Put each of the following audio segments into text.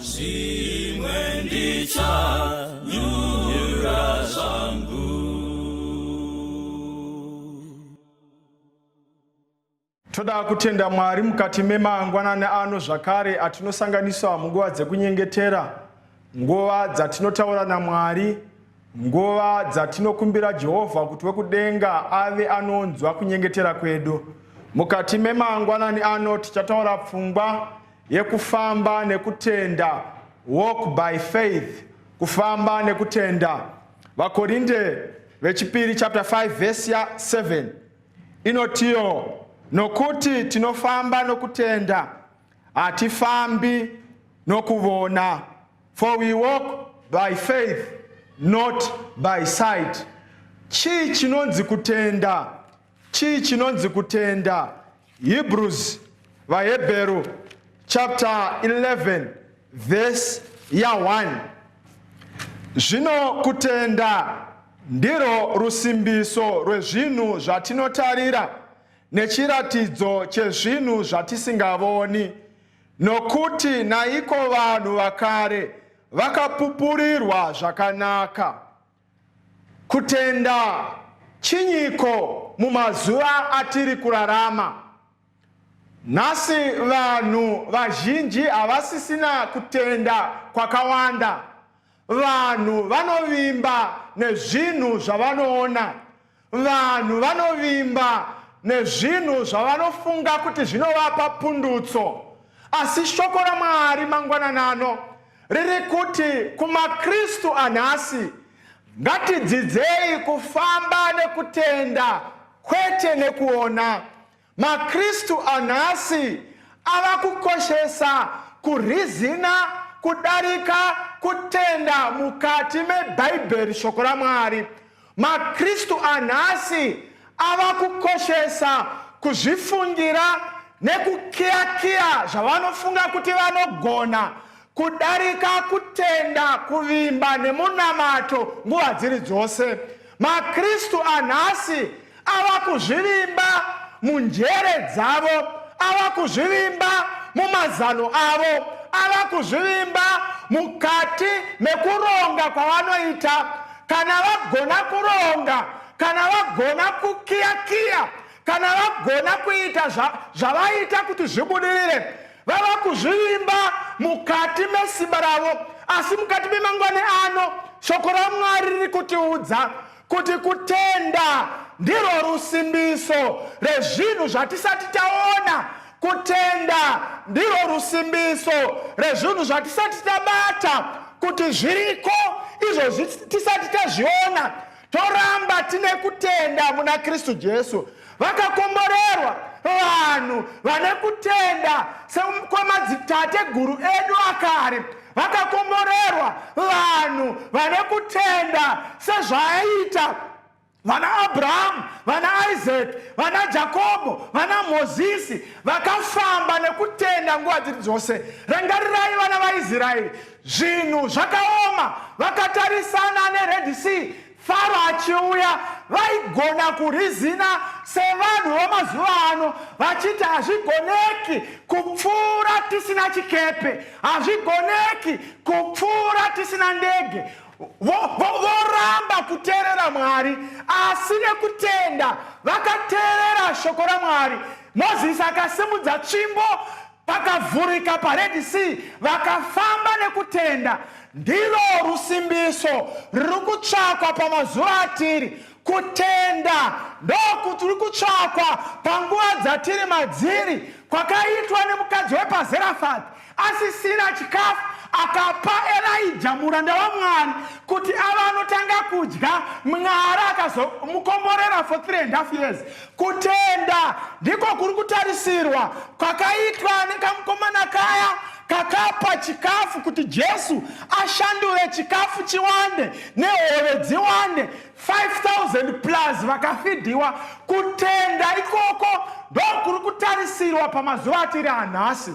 zvimwe ndichanyura zvangu toda kutenda mwari mukati memangwanani ano zvakare atinosanganiswa munguva dzekunyengetera nguva dzatinotaura namwari nguva dzatinokumbira jehovha kuti wekudenga ave anonzwa kunyengetera kwedu mukati memangwanani ano tichataura pfungwa yekufamba nekutenda, walk by faith, kufamba nekutenda. VaKorinde vechipiri chapter 5 verse 7 inotiyo nokuti tinofamba nokutenda hatifambi nokuvona for we walk by faith not by sight chii chinonzi kutenda Chii chinonzi kutenda? Hebrews, vaHebheru chapter 11 verse ya 1. Zvino kutenda ndirwo rusimbiso rwezvinhu zvatinotarira nechiratidzo chezvinhu zvatisingavoni. Nokuti naiko vanhu vakare vakapupurirwa zvakanaka. Kutenda chinyiko mumazuva atiri kurarama? Nhasi vanhu vazhinji havasisina kutenda kwakawanda. Vanhu vanovimba nezvinhu zvavanoona. Vanhu vanovimba nezvinhu zvavanofunga kuti zvinovapa pundutso, asi shoko raMwari mangwanana ano riri kuti kumaKristu anhasi, ngatidzidzei kufamba nekutenda kwete nekuona. MaKristu anhasi ava kukoshesa kurizina kudarika kutenda mukati meBhaibheri, Shoko raMwari. MaKristu anhasi ava kukoshesa kuzvifungira nekukiyakiya zvavanofunga kuti vanogona kudarika kutenda, kuvimba nemunamato nguva dziri dzose. MaKristu anhasi ava kuzvivimba munjere dzavo, ava kuzvivimba mumazano avo, ava kuzvivimba mukati mekuronga kwavanoita. Kana vagona kuronga, kana vagona kukiyakiya, kana vagona kuita zvavaita kuti zvibudirire, Vava kuzvivimba mukati mesimba ravo, asi mukati memangwani ano shoko raMwari riri kutiudza kuti kutenda ndirwo rusimbiso rezvinhu zvatisati taona kutenda ndirwo rusimbiso rezvinhu zvatisati tabata kuti zviriko izvo tisati tazviona toramba tine kutenda muna kristu jesu vakakomborerwa vanhu vane kutenda sekwamadzitateguru edu akare vakakomborerwa vanhu vane kutenda sezvaaita vana abrahamu vana isaki vana jakobo vana mozisi vakafamba nekutenda nguva dziri dzose rangarirai vana vaisraeri Zvinhu zvakaoma vakatarisana neRed Sea Faro achiuya vaigona kurizina sevanhu vamazuva ano vachiti hazvigoneki kupfuura tisina chikepe hazvigoneki kupfuura tisina ndege voramba kuteerera mwari asi nekutenda vakateerera shoko ramwari mozisi akasimudza tsvimbo Pakavhurika paRed Sea vakafamba nekutenda. Ndilo rusimbiso ruri kutsvakwa pamazuva atiri. Kutenda ndokuti ruri kutsvakwa panguva dzatiri madziri kwakaitwa nemukadzi wepaZerafati asisina chikafu akapa Elijah muranda waMwari kuti ava anotanga kudya Mwari akazomukomborera for three and half years Kutenda ndiko kuri kutarisirwa kwakaitwa nekamukomana kaya kakapa chikafu kuti Jesu ashandure chikafu chiwande nehove dziwande 5000 plus vakafidhiwa. Kutenda ikoko ndokuri kutarisirwa pamazuva atiri anhasi.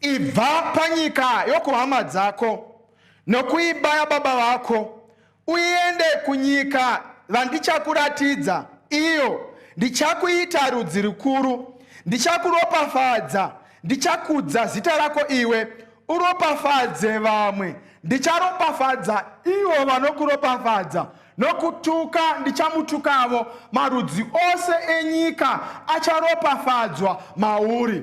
Ibva panyika yokuhama dzako nokuiba yababa vako, uende kunyika vandichakuratidza, iyo ndichakuita rudzi rukuru. Ndichakuropafadza, ndichakudza zita rako iwe, uropafadze vamwe. Ndicharopafadza ivo vanokuropafadza, nokutuka ndichamutukavo. Marudzi ose enyika acharopafadzwa mauri.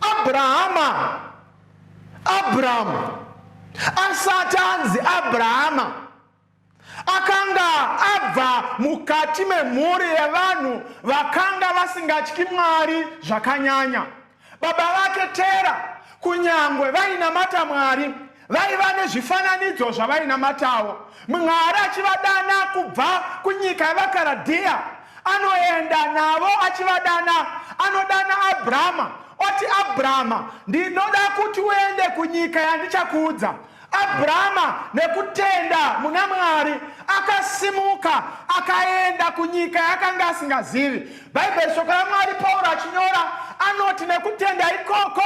Abrahama, Abrahamu, asati anzi Abrahama, akanga abva mukati memhuri yevanhu vakanga vasingatyi Mwari zvakanyanya. Baba vake Tera kunyangwe vainamata Mwari, Vaiva nezvifananidzo zvavainamatawo. Mwari achivadana kubva kunyika yavaKaradhiya, anoenda navo achivadana. Anodana Abrahama oti, Abrahama, ndinoda kuti uende kunyika yandichakuudza. Abrahama nekutenda muna Mwari akasimuka akaenda kunyika yakanga asingazivi. Bhaibheri, shoko raMwari, Pauro achinyora anoti nekutenda ikoko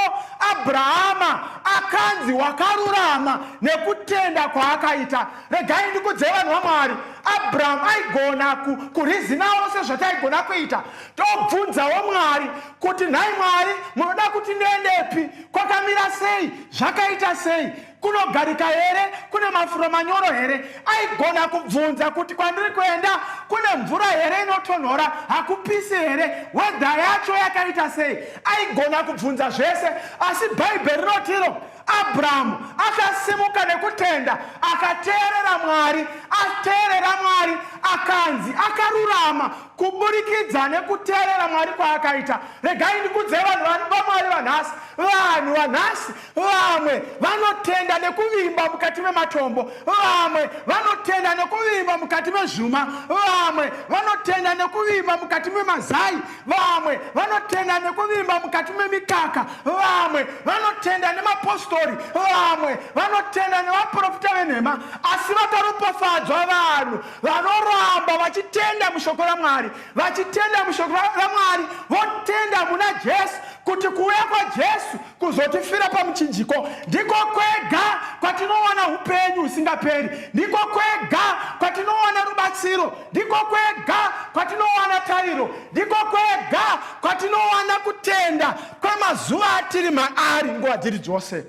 Abrahama akanzi wakarurama nekutenda kwaakaita. Regai ndikudze vanhu vaMwari, Abraham aigona kurizinawo sezvataigona kuita tobvunzawo Mwari kuti nhai Mwari munoda kuti ndiendepi, kwakamira sei, zvakaita sei. kunogarika here kune mafuro manyoro here aigona kubvunza kuti kwandiri kuenda kune mvura here inotonhora hakupisi here wedha yacho yakaita sei aigona kubvunza zvese asi bhaibheri rinotiro abrahamu akasimuka nekutenda akateerera mwari ateerera mwari akanzi akarurama kuburikidza nekuteerera mwari kwaakaita regai ndikudzei vanhu vamwari vanhasi vanhu vanhasi Vamwe vanotenda nekuvimba mukati mematombo, vamwe vanotenda nekuvimba mukati mezvuma, vamwe vanotenda nekuvimba mukati memazai, vamwe vanotenda nekuvimba mukati memikaka, vamwe vanotenda nemapostori, vamwe vanotenda nevaprofita venhema. Asi vakaropafadzwa vanhu vanoramba vachitenda mushoko raMwari, vachitenda mushoko raMwari, votenda muna Jesu kuti kuuya kwaJesu Kuzotifira pamuchinjiko ndiko kwega kwatinowana upenyu husingaperi, ndiko kwega kwatinowana rubatsiro, ndiko kwega kwatinowana tariro, ndiko kwega kwatinowana kutenda kwemazuva atiri maari nguva dziri dzose.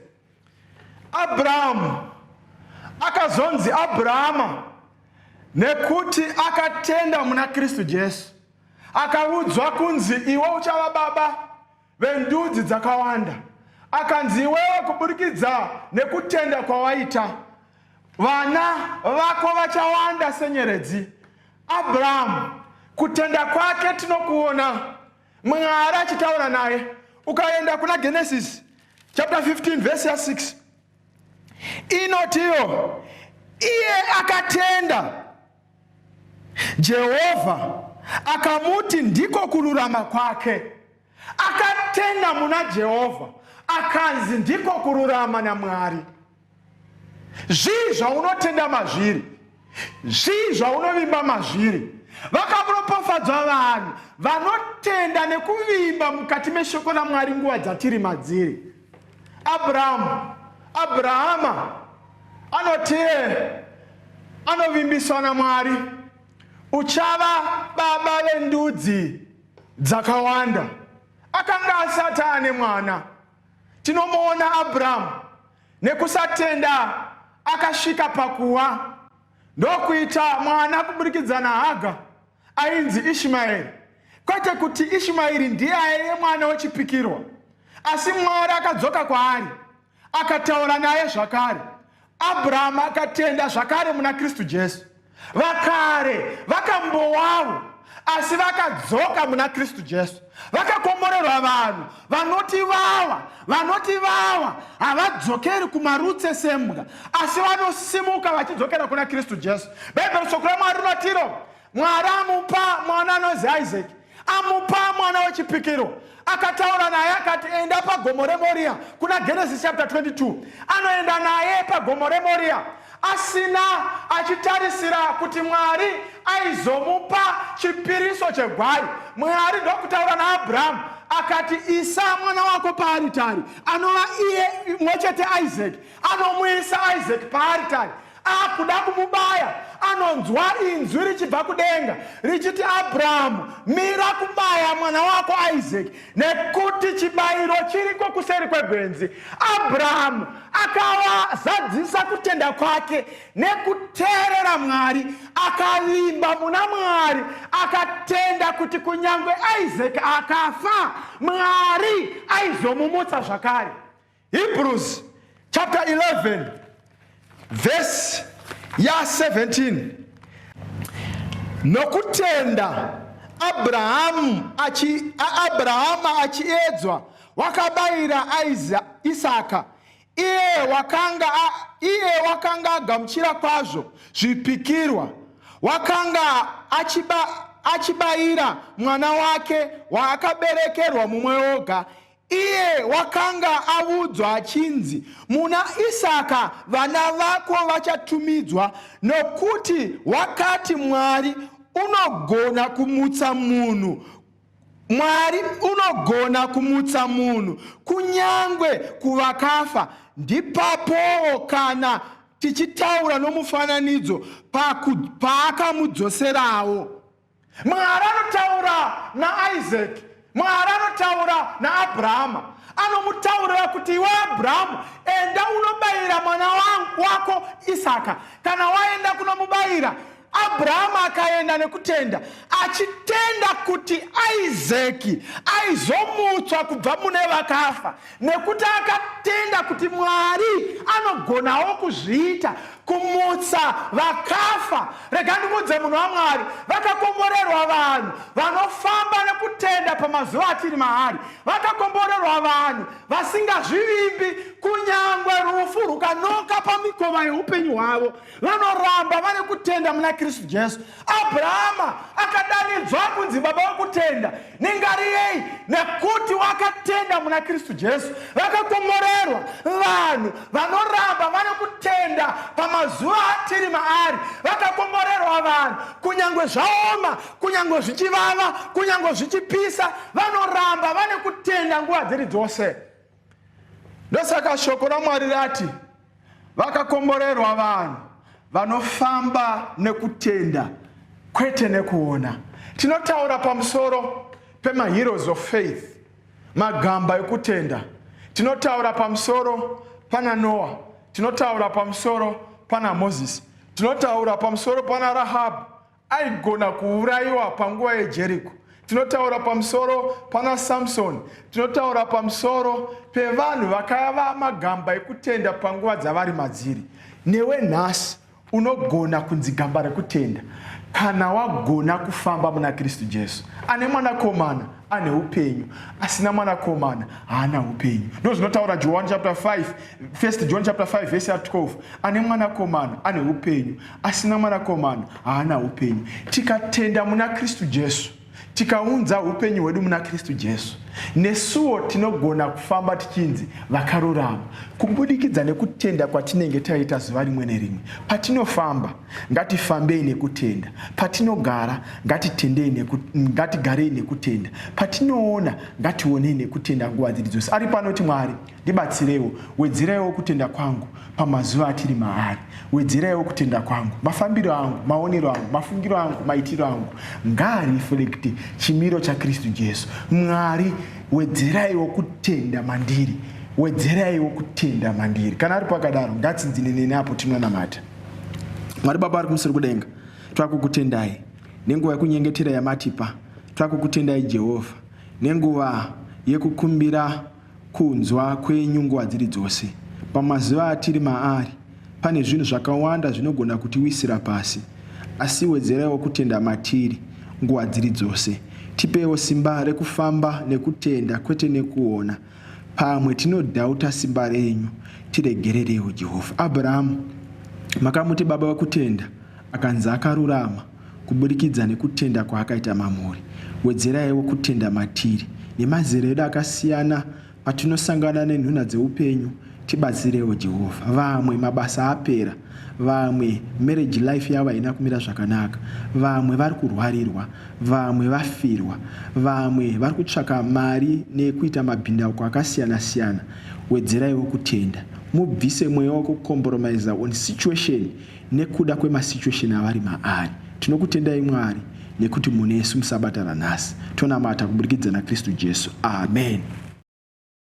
Abrahamu akazonzi Abrahama nekuti akatenda muna Kristu Jesu, akaudzwa kunzi iwe uchava baba vendudzi dzakawanda. Akanzi, Iwewe, kuburikidza nekutenda kwawaita, vana vako vachawanda senyeredzi. Abrahamu, kutenda kwake tinokuona Mwari achitaura naye. Ukaenda kuna Genesis chapter 15 verse ya 6 inotiyo iye akatenda Jehovha akamuti ndiko kururama kwake. Akatenda muna Jehovha akanzi ndiko kururama naMwari. Zvii zvaunotenda mazviri? Zvii zvaunovimba mazviri? Vakaropafadzwa vanhu vanotenda nekuvimba mukati meshoko raMwari nguva dzatiri madziri. Abrahamu, Abrahama anoti anovimbiswa naMwari, uchava baba vendudzi dzakawanda. Akanga asati ane mwana. Tinomuona Abrahamu nekusatenda akasvika pakuwa ndokuita mwana kuburikidza naHaga. Ainzi Ishimaeri, kwete kuti Ishimaeri ndiye aive mwana wechipikirwa, asi Mwari akadzoka kwaari akataura naye zvakare. Abrahama akatenda zvakare muna Kristu Jesu. Vakare vakambowavo, asi vakadzoka muna Kristu Jesu. Vakakomborerwa vanhu vanoti vawa vanoti vawa havadzokeri kumarutse sembwa asi vanosimuka vachidzokera kuna kristu jesu bhaibheri shoko ramwari rinotiro mwari amupa mwana anonzi isaki amupa mwana wechipikiro akataura naye akati enda pagomo remoriya kuna genesis chapter 22 anoenda naye pagomo remoriya asina achitarisira kuti Mwari aizomupa chipiriso chegwai. Mwari ndokutaura naAbrahamu akati, Isa mwana wako paaritari, anova iye mwe chete Isaac. Anomuisa Isaac paaritari akuda kumubaya anonzwa inzwi richibva kudenga richiti abrahamu mira kubaya mwana wako isaac Nekuti chibayiro chiriko kuseri kwegwenzi, Abrahamu akazadzisa kutenda kwake nekuteerera Mwari, akavimba muna Mwari, akatenda kuti kunyange Isaac akafa, Mwari aizomumutsa zvakare. Hebrews chapter 11 verse ya 17 nokutenda abrahamu achi, abrahama achiedzwa wakabayira isaka iye wakanga, iye wakanga agamuchira kwazvo zvipikirwa wakanga achiba, achibayira mwana wake waakaberekerwa mumwe oga Iye wakanga avudzwa achinzi, Muna Isaka vana vako vachatumidzwa, nokuti wakati, Mwari unogona kumutsa munhu Mwari unogona kumutsa munhu kunyangwe kuvakafa. Ndipapowo kana tichitaura nomufananidzo paakamudzoserawo. Mwari anotaura naIsaki, Mwari anotaura naAbrahama, anomutaurira kuti iwe Abrahamu, enda unobayira mwana wako Isaka. Kana waenda kunomubayira, Abrahamu akaenda nekutenda, achitenda kuti Isaki aizomutswa kubva mune vakafa. nekuti akatenda kuti mwari anogonawo kuzviita kumutsa vakafa rega ndikuudze munhu wamwari vakakomborerwa vanhu vanofamba nekutenda pamazuva atiri maari vakakomborerwa vanhu vasingazvivimbi kunyangwe rufu rukanoka pamikova yeupenyu hwavo Vanoramba vane kutenda muna Kristu Jesu. Abrahama akadanidzwa kunzi baba wekutenda. Ningariyei, nekuti wakatenda muna Kristu Jesu. Vakakomorerwa vanhu vanoramba vane kutenda pamazuva atiri maari. Vakakomorerwa vanhu kunyange zvaoma, kunyange zvichivava, kunyange zvichipisa, vanoramba vane kutenda nguva dziri dzose. Ndosaka shoko raMwari rati vakakomborerwa vanhu vanofamba nekutenda kwete nekuona. Tinotaura pamusoro pemaheroes of faith, magamba ekutenda. Tinotaura pamusoro pana Noa, tinotaura pamusoro pana Moses, tinotaura pamusoro pana Rahabhu Aigona kuurayiwa panguva yeJeriko. Tinotaura pamusoro pana Samsoni, tinotaura pamusoro pevanhu vakava magamba ekutenda panguva dzavari madziri. Newe nhasi unogona kunzi gamba rekutenda kana wagona kufamba muna Kristu Jesu ane mwanakomana ane upenyu asina mwanakomana haana upenyu ndo zvinotaura john chapter 5 first john chapter 5 vese ya 12 ane mwanakomana ane upenyu asina mwanakomana haana upenyu tikatenda muna kristu jesu tikaunza upenyu hwedu muna kristu jesu nesuwo tinogona kufamba tichinzi vakarurama kubudikidza nekutenda kwatinenge taita zuva rimwe nerimwe patinofamba Ngatifambei nekutenda patinogara, ngatitendei neku, ngatigarei nekutenda patinoona, ngationei nekutenda nguva dziri dzose. Ari panoti Mwari, ndibatsireiwo, wedzeraiwo kutenda kwangu pamazuva atiri maari, wedzeraiwo kutenda kwangu, mafambiro angu, maonero angu, mafungiro angu, maitiro angu ngaareflekte chimiro chaKristu Jesu. Mwari, wedzeraiwo kutenda mandiri, wedzeraiwo kutenda mandiri. Kana ari pakadaro, ngatsinzine neni apo tinonamata. Mwari Baba ari kumusoro kudenga, twakukutendai nenguva yekunyengetera yamatipa. Twakukutendai Jehovha nenguva yekukumbira kunzwa kwenyu nguva dziri dzose. Pamazuva atiri maari, pane zvinhu zvakawanda zvinogona kutiwisira pasi, asi wedzeraiwo kutenda matiri nguva dziri dzose. Tipeiwo simba rekufamba nekutenda, kwete nekuona. Pamwe tinodhauta simba renyu, tiregererewo Jehovha. Abrahamu, makamuti baba wekutenda, akanzi akarurama kuburikidza nekutenda kwaakaita mamuri. Wedzeraiwo kutenda matiri. Nemazera edu akasiyana, patinosangana nenhunha dzeupenyu, Tibatsirewo Jehovah vamwe mabasa apera vamwe marriage life yavo haina kumira zvakanaka vamwe vari kurwarirwa vamwe vafirwa vamwe vari kutsvaka mari nekuita mabhindauko akasiyana siyana wedzeraiwo kutenda mubvise mweya wekukomboromaiza on situation nekuda kwemasituation avari maari tinokutendai mwari nekuti munesu musabatana nhasi tonamata kuburikidza nakristu jesu amen